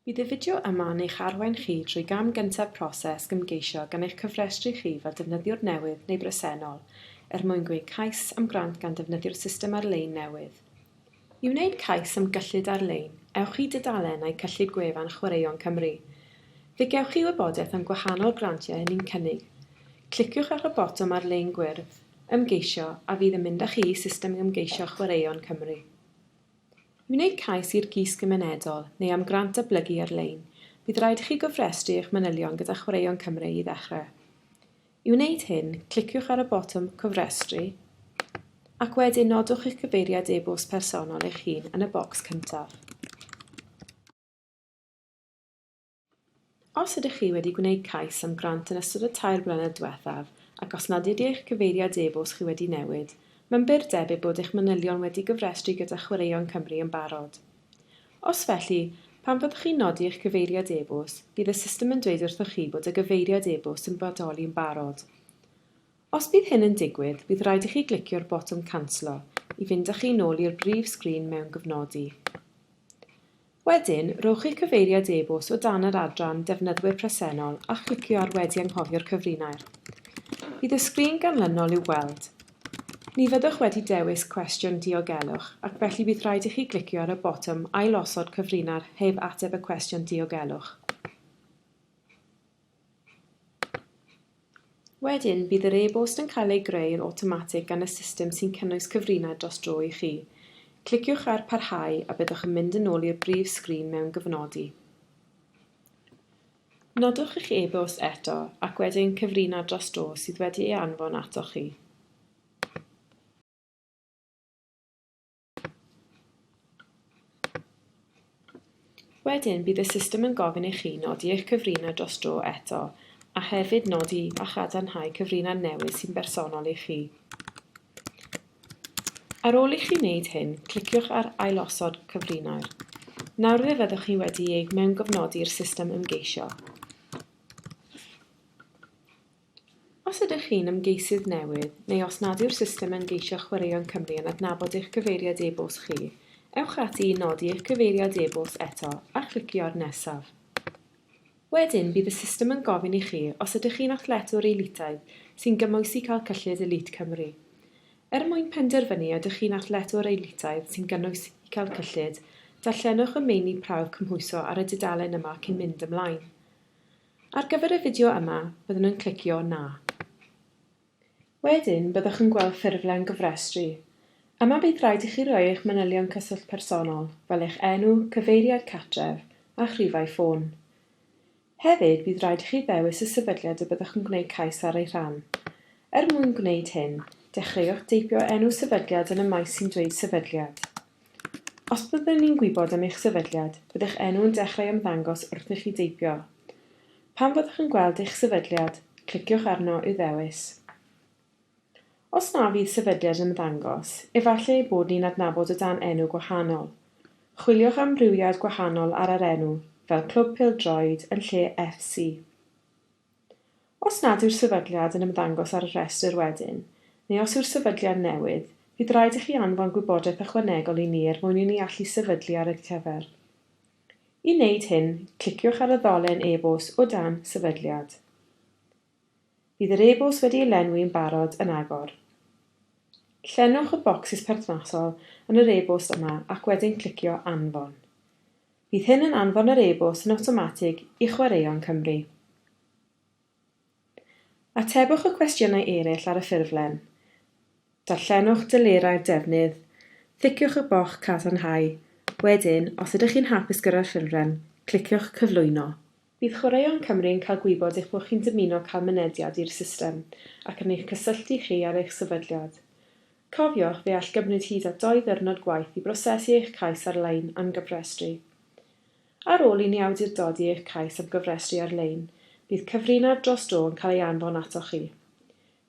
Bydd y fideo yma yn eich arwain chi drwy gam gyntaf proses ymgeisio gan eich cofrestru chi fel defnyddiwr newydd neu bresennol er mwyn gwneud cais am grant gan ddefnyddio'r system ar-lein newydd. I wneud cais am gyllid ar-lein, ewch i dudalennau cyllid gwefan Chwaraeon Cymru. Fe gewch chi wybodaeth am gwahanol grantiau hynny'n cynnig. Cliciwch ar y botwm ar-lein gwyrdd. Ymgeisio a fydd yn mynd â chi i system ymgeisio Chwaraeon Cymru. I wneud cais i'r Gys Gymunedol neu am grant datblygu ar-lein, bydd rhaid i chi gofrestru eich manylion gyda Chwaraeon Cymru i ddechrau. I wneud hyn, cliciwch ar y botwm 'Cofrestru' ac wedyn nodwch eich cyfeiriad e-bost personol eich hun yn y bocs cyntaf. Os ydych chi wedi gwneud cais am grant yn ystod y tair blynedd diwethaf ac os nad ydy eich cyfeiriad e-bost chi wedi newid, mae'n bur debyg bod eich manylion wedi gyfrestru gyda Chwaraeon Cymru yn barod. Os felly, pan fyddwch chi'n nodi eich cyfeiriad e-bost, bydd y system yn dweud wrthoch chi bod y gyfeiriad e-bost yn bodoli'n barod. Os bydd hyn yn digwydd, bydd rhaid i chi glicio'r botwm Canslo i fynd â chi nôl i'r brif sgrin mewn gofnodi. Wedyn, rhowch eich cyfeiriad e-bost o dan yr adran Defnyddwyr Presennol a chlicio ar Wedi Anghofio'r Cyfrinair. Bydd y sgrin ganlynol i'w gweld. Ni fyddwch wedi dewis cwestiwn diogelwch ac felly bydd rhaid i chi glicio ar y botwm Ailosod Cyfrinair heb ateb y cwestiwn diogelwch. Wedyn, bydd yr e-bost yn cael ei greu yn awtomatig gan y system sy'n cynnwys cyfrinaid dros dro i chi. Cliciwch ar 'Parhau' a byddwch yn mynd yn ôl i'r brif sgrin mewn gofnodi. Nodwch eich e-bost eto ac wedyn cyfrinaid dros dro sydd wedi ei anfon atoch chi. Wedyn bydd y system yn gofyn i chi nodi eich cyfrinau dros dro eto, a hefyd nodi a chadarnhau cyfrinau newydd sy'n bersonol i chi. Ar ôl i chi wneud hyn, cliciwch ar Ailosod Cyfrinau'r. Nawr fe fyddwch chi wedi eich mewngofnodi i'r system ymgeisio. Os ydych chi'n ymgeisydd newydd, neu os nad yw'r system ymgeisio chwaraeon Cymru yn adnabod eich cyfeiriad e-bost chi, ewch ati i nodi eich cyfeiriad e-bost eto a chlicio'r nesaf. Wedyn, bydd y system yn gofyn i chi os ydych chi'n athletwr elitaidd sy'n gymwysi cael cyllid Elite Cymru. Er mwyn penderfynu ydych chi'n athletwr elitaidd sy'n gynwys i cael cyllid, darllenwch y meini prawf cymhwyso ar y dudalen yma cyn mynd ymlaen. Ar gyfer y fideo yma, byddwn yn clicio 'Na'. Wedyn, byddwch yn gweld ffurflen gofrestru. Yma bydd rhaid i chi roi eich manylion cyswllt personol, fel eich enw, cyfeiriad cartref, a'ch rhifau ffôn. Hefyd, bydd rhaid i chi ddewis y sefydliad y byddwch yn gwneud cais ar ei rhan. Er mwyn gwneud hyn, dechreuwch deipio enw sefydliad yn y maes sy'n dweud 'Sefydliad'. Os byddwn ni'n gwybod am eich sefydliad, bydd eich enw yn dechrau ymddangos wrth i chi deipio. Pan fyddwch yn gweld eich sefydliad, cliciwch arno i'w ddewis. Os na fydd sefydliad yn ymddangos, efallai ei bod ni'n adnabod o dan enw gwahanol. Chwiliwch am amrywiad gwahanol ar yr enw, fel Clwb Pêl-droed yn lle FC. Os nad yw'r sefydliad yn ymddangos ar y rhestr wedyn, neu os yw'r sefydliad newydd, bydd rhaid i chi anfon gwybodaeth ychwanegol i ni er mwyn i ni allu sefydlu ar eich cyfer. I wneud hyn, cliciwch ar y ddolen e-bost o dan Sefydliad. Bydd yr e-bost wedi ei lenwi yn barod yn agor. Llenwch y bocsys perthnasol yn yr e-bost yma ac wedyn clicio Anfon. Bydd hyn yn anfon yr e-bost yn awtomatig i Chwaraeon Cymru. Atebwch y cwestiynau eraill ar y ffurflen. Darllenwch delerau'r defnydd, ticiwch y bocs Cadarnhau, wedyn, os ydych chi'n hapus gyda'r ffurflen, cliciwch Cyflwyno. Bydd Chwaraeon Cymru yn cael gwybod eich bod chi'n dymuno cael mynediad i'r system ac yn eich cysylltu chi ar eich sefydliad. Cofiwch, fe all gymryd hyd at dou ddiwrnod gwaith i brosesu eich cais ar-lein am gyfrestru. Ar ôl i ni awdurdodi eich cais am gyfrestru ar-lein, bydd cyfrinair dros dro yn cael ei anfon atoch chi.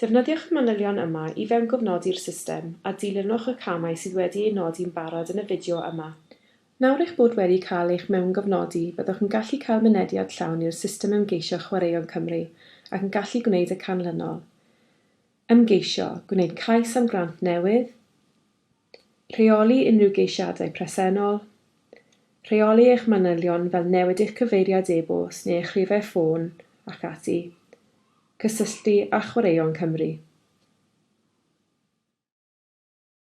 Defnyddiwch y manylion yma i fewngofnodi'r system a dilynwch y camau sydd wedi eu nodi'n barod yn y fideo yma. Nawr eich bod wedi cael eich mewngofnodi byddwch yn gallu cael mynediad llawn i'r system ymgeisio Chwaraeon Cymru ac yn gallu gwneud y canlynol, Ymgeisio, gwneud cais am grant newydd, rheoli unrhyw geisiadau presennol, rheoli eich manylion fel newid eich cyfeiriad e-bost neu eich rhifau ffôn ac ati, cysylltu â Chwaraeon Cymru.